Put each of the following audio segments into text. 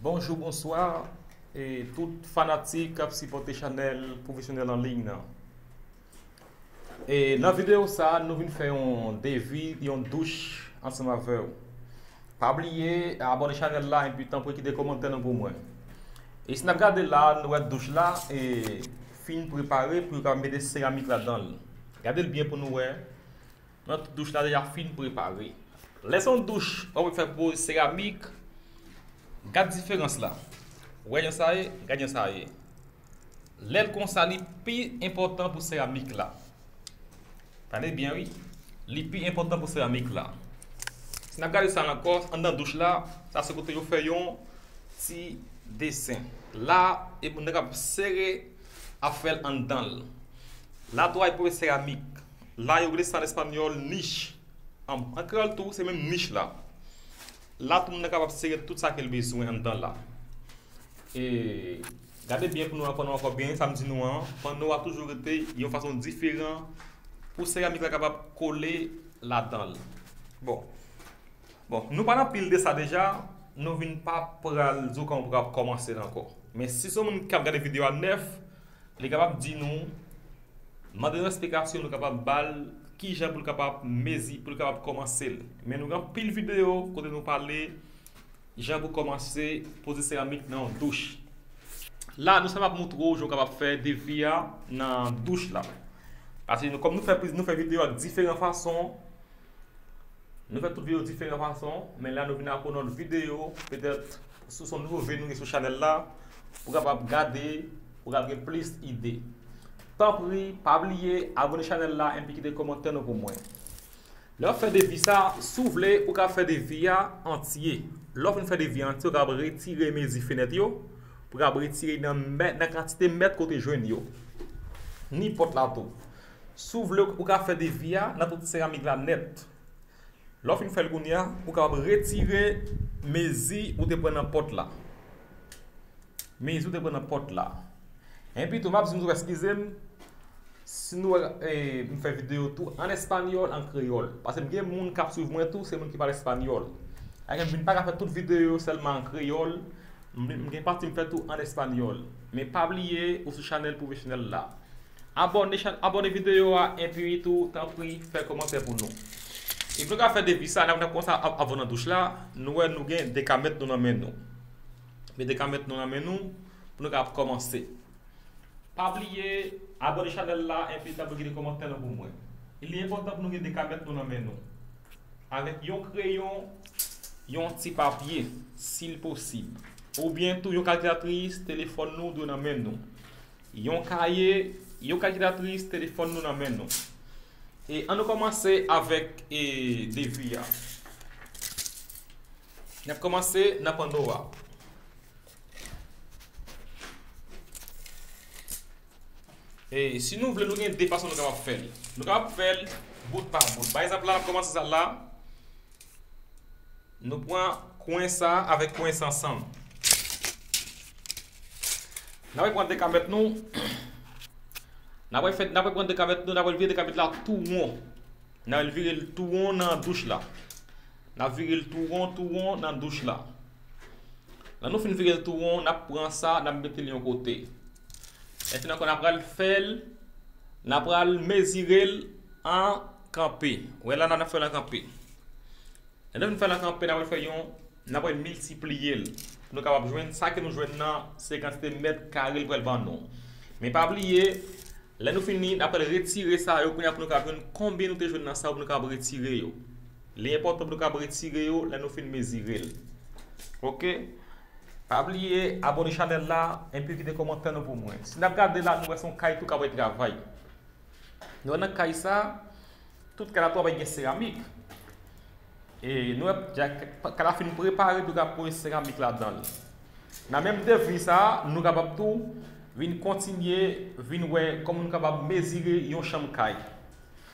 Bonjou bonswa e tout fanatik kap sipòte chanèl pwofesyonèl anliy nan e nan videyo sa nou vin fè yon devi yon douch ansanm avèw pa bliye abòne chanèl la epi tanpri kite kòmantè nou pou mwen e si nap gade la nou wè douch la e fin prepare pou yo ka mete seramik ladanl gadel byen pou nou wè Nan tout douch la deja fin prepare. Lè se yon douch wap wè fè poz seramik gad diferans la wè jan sa ye gad jan sa ye lèl konsa li pi enpòtan pou seramik la tande byen wi li pi enpòtan pou seramik la si nap gade sa ankò anndan douch la sa se kote yo fè yon ti desen la epi nèg la ap sere ap fèl anndanl la tou a epi pou seramik. La yo rele sa an espanyòl niche. An kreyòl tou se menm niche la. La tou moun nan kapab sere tout sa ke l bezwen anndan la. E gade byen pou nou aprann ankò byen sa m di nou an, panno a toujou rete yon fason diferan pou seramik la kapab kole ladan l. Bon, bon nou pa nan pil de sa deja, nou vin pa pral di w kòman pou w kapab kòmanse l ankò. Men si se w moun k ap gade videyo a nèf. Li kapab di nou, mande nou esplikasyon nou kapab ba l ki jan pou l kapab mezi, pou l kapab kòmanse l. Men nou gen anpil videyo kote nou pale jan pou kòmanse poze seramik nan yon douch. La nou sèlman ap montre w jan w kapab fè defi a nan douch la. Pase kòm nou fè videyo ak diferan fason, Nou fè tout video diferan fason, men la nou vin ak yon lòt video, petèt si w son nouvo vini sou chanèl la, ou kapab gade, ou kapab gen plis ide. Tanpri, pa bliye abone chanèl la enpi kite kòmantè nou pou mwen. Lè w ap fè devis sa, si w vle, ou ka fè devis a antye. Lè w fin fè devis a antye, ou kapab retire mezi fenèt yo, ou kapab retire nan kantite mèt ke w te jwenn yo, ni pòt la tou. Si w vle ou ka fè defi a nan tout seramik la nèt. Lè w fin fè l kounye a, ou kapab retire mezi ou te pran nan pòt la. Mezi ou te pran nan pòt la. Enpi tou m ap di nou tou eskize m si nou wè m fè videyo tou an espanyòl, an kreyòl. Pase m gen moun k ap swiv mwen tou se moun ki pale espanyòl. Sa fè m vin pa ka fè tout videyo yo sèlman an kreyòl. M gen pati m fè tou an espanyòl. Men pa bliye ou sou chanèl pwofesyonèl la. Abòne chan abòne video a enpi tou tanpri fè kòmantè pou nou. Epi nou ka fè depi sa lè nap kòmanse ap avan nan douch la nou wè nou gen dekamèt nou nan men nou. Met dekamèt nou nan men nou pou nou ka ap kòmanse. Pa bliye abòne chanèl la enpi tanpri kite kòmantè nou pou mwen. Li enpòtan pou nou gen dekamèt nou nan men nou. Avèk yon kreyon, yon ti papye sil posib. Oubyen tou yon kalkilatris, telefòn nou dwe nan men nou. Yon kaye, yon kalkilatris, telefòn nou nan men nou. E an nou kòmanse avèk e devi a. N ap kòmanse nan panno a. E si nou vle nou gen de fason nou kapab fè l. Nou kapab fè l bout pa bout. Pa egzanp la n ap kòmanse sa la. Nou pran kwen sa avèk kwen sa ansanm. N apre pran 2 kamèt nou. N apre fè, n apre pran 2 kamèt nou, n apre vire 2 kamèt la tou won. N al vire l tou won nan douch la. N ap vire l tou won, tou won nan douch la. Lè nou fin vire l tou won, n ap pran sa, n ap mete l yon kote. Mèsi nan kon ap pral fèl nan pral mezirel an kanpe wè la nan fèl an kanpe lè nou fèl an kanpe nan pral fè yon nan pral miltipliyel pou nou kapab jwenn sa ke nou jwenn nan se kantite mèt kare li pral ban nou men pa bliye lè nou fini nan pral retire sa yo kounya pou nou kapab jwenn konbyen nou te jwenn nan sa yo pou nou kapab retire yo. Li enpòtan pou nou kab retire yo lè nou fin mezire l ok pa bliye abone chanèl la enpi kite kòmantè nou pou mwen si nap gade la nou wè son kay tou kap wè travay nou wè nan kay sa tout kay la tou ap gen seramik e nou wè kay la fin prepare nou kab pose seramik ladan l nan menm devi sa nou kapab tou vin kontinye vin wè kòman nou kapab mezire yon chanm kay.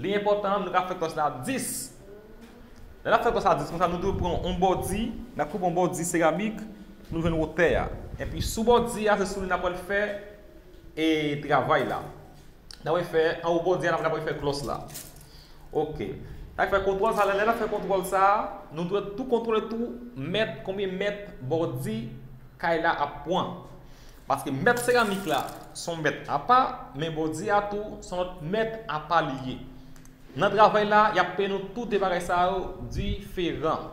Li enpòtan nou ka fè kòs la 10. Lè n ap fè kòs la 10 konsa, nou dwe pran yon bòdi, n ap koupe yon bòdi seramik pou nou jwenn wotè a. Enpi sou bòdi a, se sou li n ap pral fè e travay la. N ap pral fè anwo bòdi a, n ap pral fè klòs la. Ok. Sa k fè kontwòl sa, lè n ap fè kontwòl sa, nou dwe tou kontwole tou mèt, konbyen mèt bòdi kay la ap pran. Paske mèt seramik la s on mèt apa, men bòdye a tou s on lòt mèt apa li ye. Nan travay la, y ap peye nou tou de bagay sa yo diferan.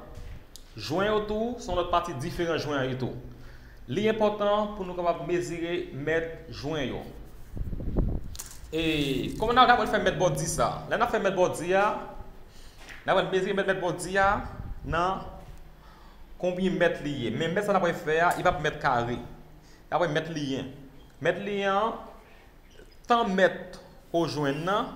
Jwen yo tou s on lòt pati diferan jwen an ye tou. Li enpòtan pou nou kapab mezire mèt jwen yo. E kòman n ap kapab fè mèt bòdye sa a? Lè n ap fè mèt bòdye a, n ap pral mezire mèt mèt bòdye a nan. Konbyen mèt li ye? Men mèt sa n apre fè a, li p ap mèt kare. Li apre mèt li ye. Mèt li ye an, tan mèt ke w jwenn nan,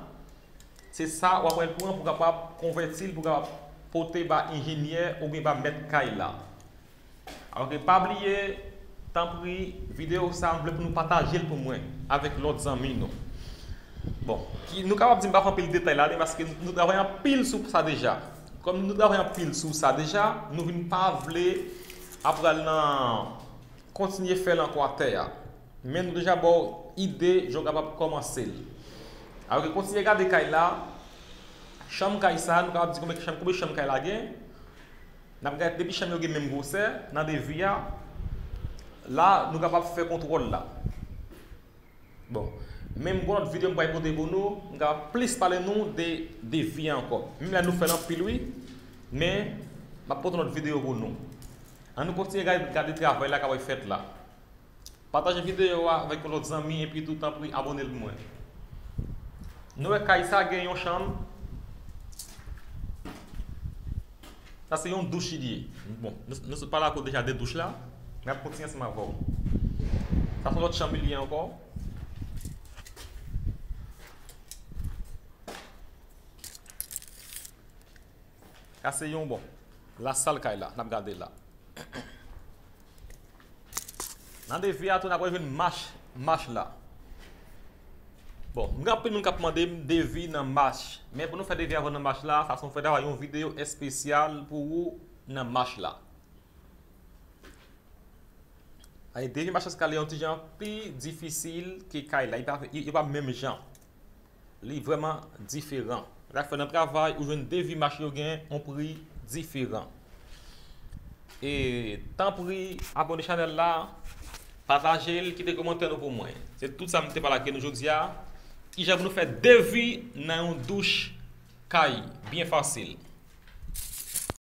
se sa w apre pran pou kapab konvèti l, pou kapab pote ba enjenyè oubyen ba mèt kay la. Alò ke pa bliye, tanpri, videyo sa a m vle pou nou pataje l pou mwen avèk lòt zanmi nou. Bon, ki nou kapab di m pa fè anpil detay la li paske nou travay anpil sou sa deja. Kòm nou travay anpil sou sa deja, nou vin pa vle ap pral nan kontinye fè l ankò a tè a. Men nou deja ba w ide jan w kapab kòmanse l. Alò ke kontinye gade kay la, chanm kay sa, nou kapab di konbyen chanm konbyen chanm kay la gen. N ap gade depi chanm yo gen menm gwosè nan devi a, la nou kapab fè kontwòl la. Bon. Menm gon lòt video m pral pote pou nou, m ka plis pale nou de de vi an ankò. Menm la nou fèl anpil wi, men map pote yon lòt video pou nou. An nou kontinye gade gade travay la kapab fèt la. Pataje video a avèk yon lòt zanmi epi tou tanpri abone pou mwen. Nou wè kay sa gen yon chanm. Sa se yon douch li ye. Bon, nou sot pale ak ou deja de douch la, m ap kontinye ansanm avè w. Sa se yon lòt chanm li ye ankò. Sa se yon, bon, lasal kay la, n ap gade la. Nan defi a tou na pral jwenn mach, mach la. Bon, m gen anpil moun kap mande m defi nan mach. Men pou nou fè defi avan nan mach la, sa son fè ta va yon video espesyal pou ou nan mach la. Aye defi mach eskalye yon ti jan pi difisil ke kay la. Yo pa menm jan. li vrèman diferan. Sak fè nan travay ou jwenn devi mache yo gen yon pri diferan. E tanpri abone chanèl la, patajel, kite komantè nou pou mwen. Se tout sa m te pale ak nou jodi a. Kijan pou nou fè devi nan yon douch kay byen fasil.